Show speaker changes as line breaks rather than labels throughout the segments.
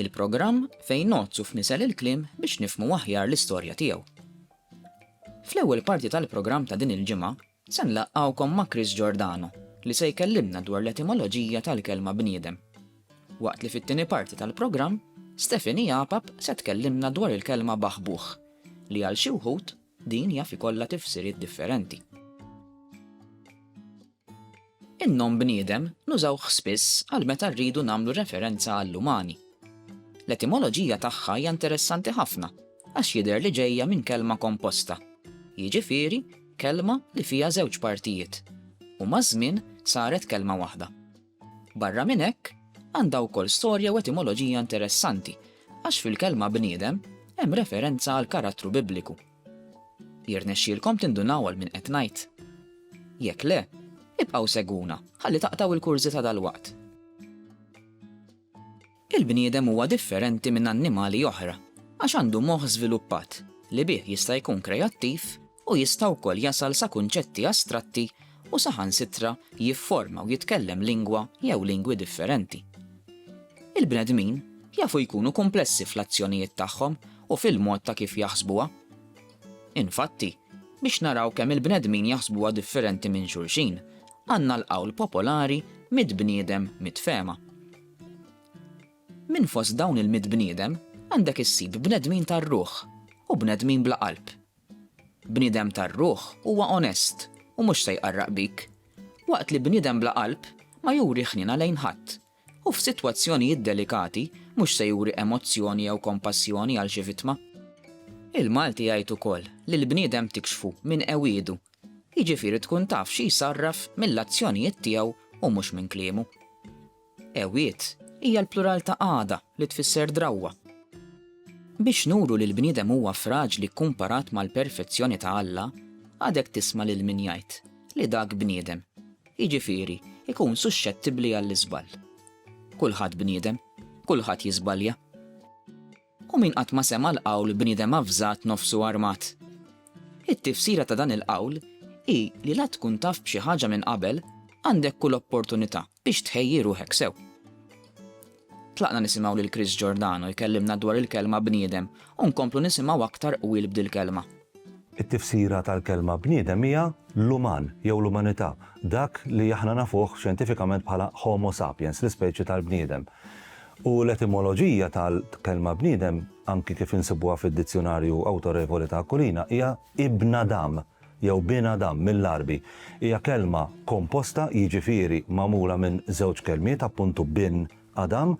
Il-programm fejn ngħoddsu f'nisel il-kliem biex nifhmu aħjar l-istorja tiegħu. Fl-ewwel parti tal-programm ta' din il-ġimgħa se nlaqqgħukom ma' Chris Giordano li se jkellimna dwar l-etimoloġija tal-kelma bniedem. Waqt li fit-tieni parti tal-programm Stephanie Apap se tkellimna dwar il-kelma baħbuħ li għal xi wħud din jaf ikollha tifsiriet differenti. In-nom bniedem nużawh spiss għal meta rridu nagħmlu referenza għall-umani. L-etimoloġija tagħha hija interessanti ħafna għax jidher li ġejja minn kelma komposta, jiġifieri kelma li fiha żewġ partijiet, u maż-żmien saret kelma waħda. Barra minn hekk, għandha wkoll storja u etimoloġija interessanti għax fil-kelma bniedem hemm referenza għall-karattru Bibliku, Jirnexxielkom tindunaw għal min qed ngħid? Jekk le, ibqgħu segwuna ħalli taqtgħu il-kurżità dalwaqt. Il-bniedem huwa differenti minn annimali oħra għax għandu moħħ żviluppat li bih jista' jkun kreattiv u jista' wkoll jasal sa kunċetti astratti u saħansitra jifforma u jitkellem lingwa jew lingwi differenti. Il-bnedmin jafu jkunu kumplessi fl-azzjonijiet tagħhom u fil-mod ta' kif jaħsbuha. Infatti, biex naraw kemm il-bnedmin jaħsbuha differenti minn xulxin, għandna l-qawl popolari mitt bniedem mitt fehma. Minn fost dawn il-mitt bniedem għandek issib bnedmin tar-ruħ u bnedmin bla qalb. Bniedem tar-ruħ huwa onest u mhux se jqarraq bik, waqt li bniedem bla qalb ma juri ħniena lejn ħadd U f'sitwazzjonijiet delikati, mhux se juri emozzjoni jew kompassjoni għal xi vittma. Il-Malti jgħid ukoll li l-bniedem tikxfu minn qewiedu, jiġifieri tkun taf xi jsarraf mill-azzjonijiet tiegħu u mhux minn kliemu. Qewied hija l-plural ta' qagħda li tfisser drawwa. Biex nuru li l-bniedem huwa fraġli kkumparat mal-perfezzjoni ta' Alla, għadek tisma' lil min jgħid li dak bniedem. jiġifieri jkun suxxettibbli għall-iżball. Kulħadd bniedem, kulħadd jiżbalja. U min qatt ma sema' l-qawl bniedem avżat nofsu armat? It-tifsira ta' dan il-qawl hi li la tkun taf b'xi ħaġa minn qabel għandek kull opportunità biex tħejji ruħek sew. Tlaqna nisimgħu lil Chris Giordano jkellimna dwar il-kelma bniedem u nkomplu nisimgħu aktar qwil b'dil-kelma. It-tifsira
tal-kelma bniedem hija l-uman jew l-umanità, dak li aħna nafuh xjentifikament bħala Homo sapiens, l-ispeċi tal-bniedem. U l-etimoloġija tal-kelma bniedem, anki kif insibuha fid-dizzjunarju awtorevoli ta' Aquilina, hija ibn Adam. jew Bin Adam mill-Għarbi, hija kelma komposta, jiġifieri magħmula minn żewġ kelmiet, appuntu Bin Adam,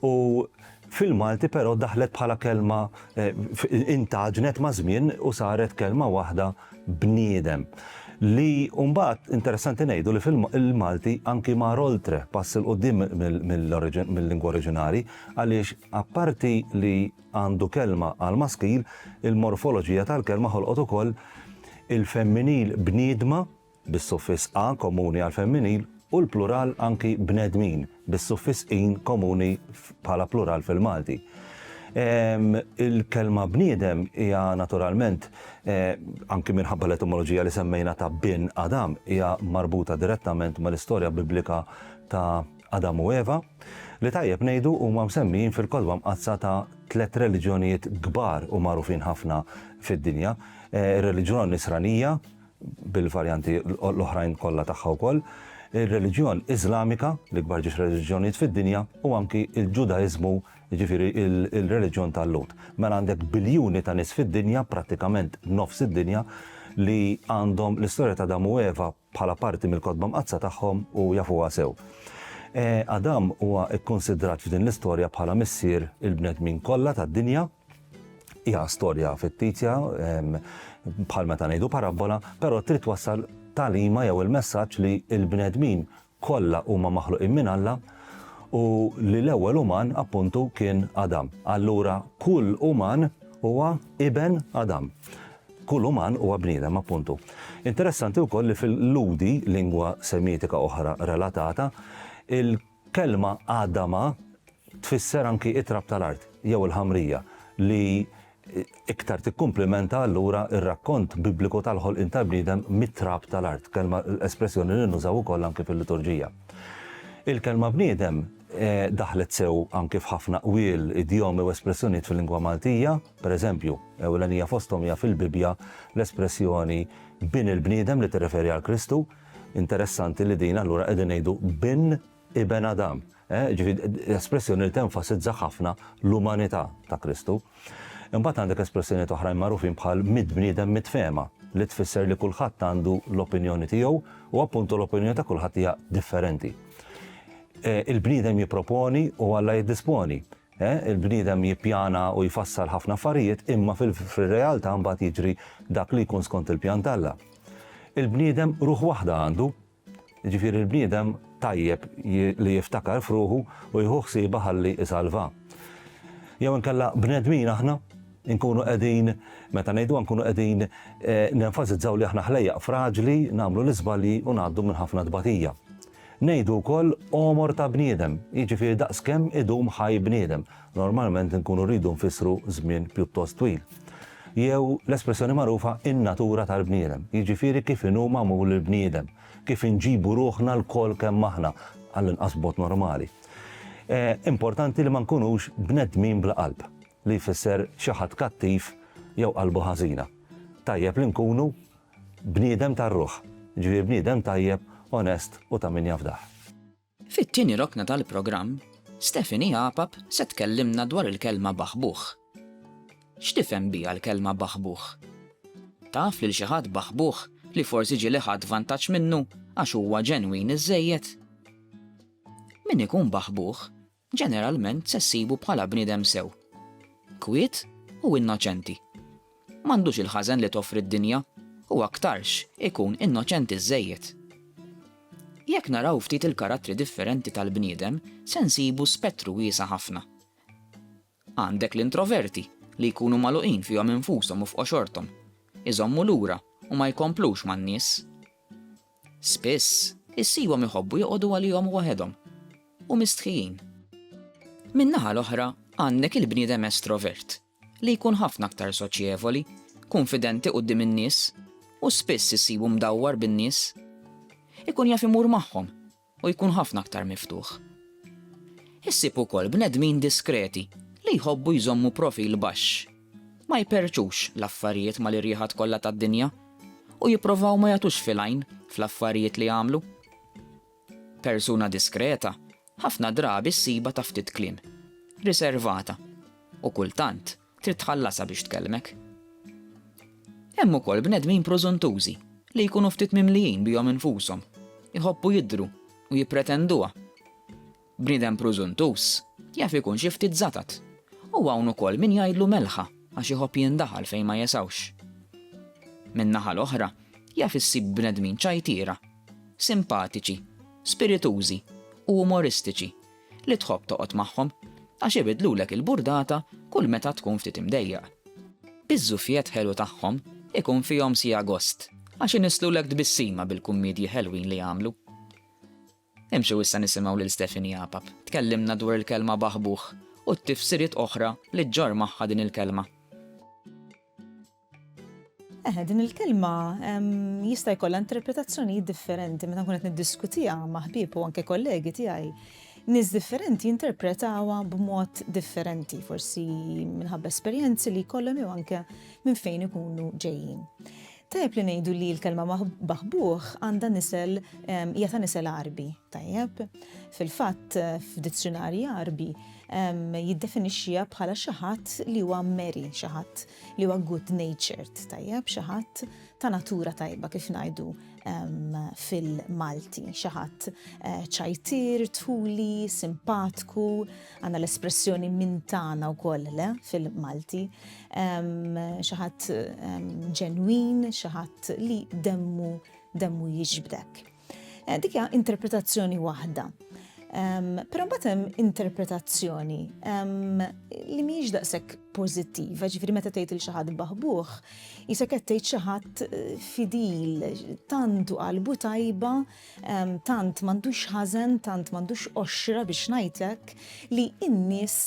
u fil-Malti però daħlet bħala kelma, intgħaġnet maż-żmien u saret kelma waħda bniedem. Li mbagħad interessanti ngħidu li fil-Malti anki mar oltre, pass 'il quddiem mill-lingwa oriġinali, għaliex apparti li, għandu kelma għall-maskil, il-morfoloġija tal-kelma ħolqot ukoll il-femminil bniedma, bis-suffiss a komuni għall-femminil, u l-plural anki bnedmin, bis-suffiss in komuni bħala plural fil-Malti. Il-kelma bniedem hija naturalment, eh, anki minħabba l-etimoloġija li semmejna ta' bin Adam, hija marbuta direttament mal-istorja biblika ta' Adam u Eva, li tajjeb ngħidu huma msemmijin fil-Kotba Mqaddsa ta' tliet reliġjonijiet kbar u magħrufin ħafna fid-dinja, ir-reliġjon Nisranija, bil-varjanti l-oħrajn kollha tagħha wkoll, ir-reliġjon Iżlamika, l-ikbar ġiex reliġjonijiet fid-dinja, u anki l-Ġudaiżmu, jiġifieri l-reliġjon tal-Lhud. Mela għandek biljuni ta' nies fid-dinja, prattikament nofs id-dinja, li għandhom l-istorja ta' Adam u Eva bħala parti mill-Kotba Mqaddsa tagħhom u jafuha sew. Adam huwa kkunsidrat f'din l-istorja bħala missier il-bnedmin kollha tad-dinja. Hija storja fittizja, bħal meta ngħidu parabbola, però trid twassal tagħlima jew il-messaġġ li l-bnedmin kollha huma maħluqin minn Alla u li l-ewwel uman, appuntu, kien Adam. Allura kull uman huwa iben Adam. Kull uman huwa bniedem, appuntu. Interessanti wkoll li fil-Lhudi, lingwa Semitika oħra relatata, il-kelma Adama tfisser anki it-trab tal-art, jew il-ħamrija, li iktar tikkumplimenta allura r-rakkont Bibliku tal-ħolqien tal-bniedem mit-trab tal-art, kelma espressjoni li nużaw ukoll anki fil-liturġija. Il-kelma bniedem daħlet sew anki f'ħafna qwiel, idjomi u espressjonijiet fil-lingwa Maltija, pereżempju, ewlenija fosthom hija fil-Bibbja l-espressjoni bin il-bniedem li tirreferi għal Kristu. Interessanti li din allura qegħdin ngħidu bin Iben Adam, ġifieri espressjoni li tenfasizza ħafna l-umanità ta' Kristu. Imbagħad għandek espressjonijiet oħrajn magħrufin bħal mitt bniedem mitt fehma, li tfisser li kulħadd għandu l-opinjoni tiegħu u appuntu l-opinjoni ta' kulħadd hija differenti. Il-bniedem jipproponi u Alla jiddisponi. Il-bniedem jippjana u jfassal ħafna affarijiet imma fir-realtà mbagħad jiġri dak li jkun skont il-pjan t'Alla. Il-bniedem ruħ waħda għandu, Jiġifieri l-bniedem tajjeb li jiftakar f'ruħu u jieħu ħsiebha ħalli isalvha. Jew inkella bnedmin aħna? Inkunu qegħdin, meta ngħiduha nkunu qegħdin eh, nenfasizzaw li aħna ħlejjaq fraġli, nagħmlu l-iżbalji u ngħaddu minn ħafna tbatija. Ngħidu wkoll omor ta' bniedem, jiġifieri daqs kemm idum ħaj bniedem. Normalment nkunu rridu nfissru żmien pjuttost twil. Jew l-espressjoni magħrufa in-natura tal-bniedem, jiġifieri kif inhu magħmul il-bniedem, kif inġibu ruħna lkoll kemm aħna, għall-inqas b'mod normali. Importanti li ma nkunux bnedmin bla qalb, li jfisser xi ħadd kattiv jew qalbu ħażina. Tajjeb li nkunu bniedem tar-ruħ, jiġifieri bniedem tajjeb, onest u ta' min jafdah. Fit-tieni
rokna tal-programm, Stephanie Apap se tkellimna dwar il-kelma baħbuħ. X'tifhem biha l-kelma baħbuħ? Taf lil xi ħadd baħbuħ li forsi ġieli ħadt vantaġġ minnu għax huwa ġenwin iżżejjed? Min ikun baħbuħ Ġeneralment se ssibu bħala bniedem sew. Kwiet u innoċenti. M'għandux il-ħażen li toffri d-dinja u aktarx ikun innoċenti żżejjed. Jekk naraw ftit il-karattri differenti tal-bniedem se nsibu spettru wiesa' ħafna. Għandek l-introverti li jkunu magħluqin fihom infushom u f'qoxorthom, iżommu lura u ma jkomplux man-nies. Spiss, issibhom iħobbu joqogħdu għalihom waħedhom u mistħijin. Min-naħa l-oħra, għandek il-bniedem estrovert, li jkun ħafna aktar soċjevoli, kunfidenti quddiem in-nies, u spiss issibu mdawwar bin-nies. Ikun jaf imur magħhom, u jkun ħafna aktar miftuħ. Issib ukoll bnedmin diskreti li jħobbu jżommu profil baxx. Ma jperrċux l-affarijiet mal-irjiħat kollha tad-dinja u jipprovaw ma jagħtux fil-għajn fl-affarijiet li jagħmlu. Persuna diskreta ħafna drabi ssibha ta' ftit kliem, riservata u kultant Trid tħallasha biex tkellmek. Hemm ukoll bnedmin prużuntużi li jkunu ftit mimlijin bihom infushom, iħobbu jidhru u jippretenduha. Bniedem prużuntuż jaf ikun xi ftit żatat u hawn ukoll min jgħidlu melħa għax iħobb jindaħal fejn ma jesgħux. Min-naħa l-oħra jaf issib bnedmin ċajtiera, simpatiċi, spiritużi u umoristiċi li tħobb toqgħod magħhom għax ibiddlulek il-burdata kull meta tkun ftit imdejjaq. Iż-żuffiett ħelu tagħhom ikun fihom siegħa gost għax inisslulek tbissima bil-kummiedji ħelwin li jagħmlu. Imxu issa nisimgħu lil Stephanie Apap tkellimna dwar il-kelma baħbuħ u t-tifsiriet oħra li ġġorr magħha din il-kelma.
Eħe, din il-kelma jista' jkollha interpretazzjonijiet differenti meta nkun qed niddiskutiha ma' ħbieb u anke kollegi tiegħi nis differenti jinterpretawa b'mod differenti, forsi minħabba esperjenzi li kollhom jew anke minn fejn ikunu ġejjin. Tajjeb li ngħidu li l-kelma maħbuħ għandha nisel hija ta' nisel Arbi, tajjeb. Fil-fatt f'dizzjonarji Arbi jiddefinixxiha bħala xi ħadd li huwa meri, xi ħadd li huwa good natured, tajjeb, xi ħadd ta' natura tajba kif ngħidu fil-Malti, xi ħadd eh, ċajtir, tuli, simpatku, għandna l-espressjoni minn tagħna wkoll le fil-Malti, xi ħadd ġenwin, xi ħadd li demmu demmu jiġbdek. Eh, dik hija interpretazzjoni waħda. Però mbagħad hemm interpretazzjoni li mhijiex daqshekk pożittiva, ġifieri meta tgħid il xi ħadd baħbuh, isa qed tgħid xi ħadd eh, fidil, tantu qalbu tajba, tant m'għandux ħażen, tant m'għandux qoxra biex ngħidlek li n-nies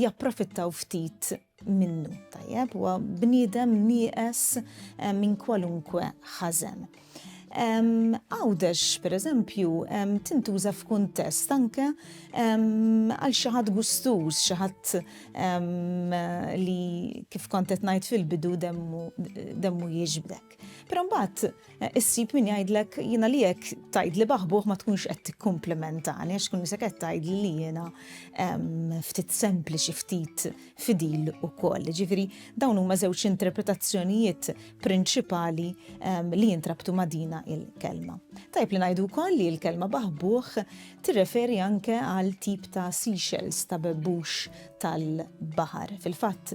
japprofittaw ftit minnu, tajjeb, huwa bniedem nieqes eh, minn kwalunkwe ħażen. Għawdex, per eżempju, tintuża f'kuntest anke għal xaħat gustuż, xaħat li kif kontet najt fil-bidu demmu jiġbdek. Però mbagħad eh, issib min jgħidlek jiena li jekk tgħidli baħbuh ma tkunx qed tikkumplimentani għax kun isek qed tgħidli li jiena ehm, ftit sempliċi ftit fidil ukoll. Ġifieri dawn huma żewġ interpretazzjonijiet prinċipali ehm, li jintrabtu ma' dina il-kelma. Tajb li ngħidu wkoll li l-kelma baħbuh tirreferi anke għal tip ta' seashells ta' bebbux tal-baħar. Fil-fatt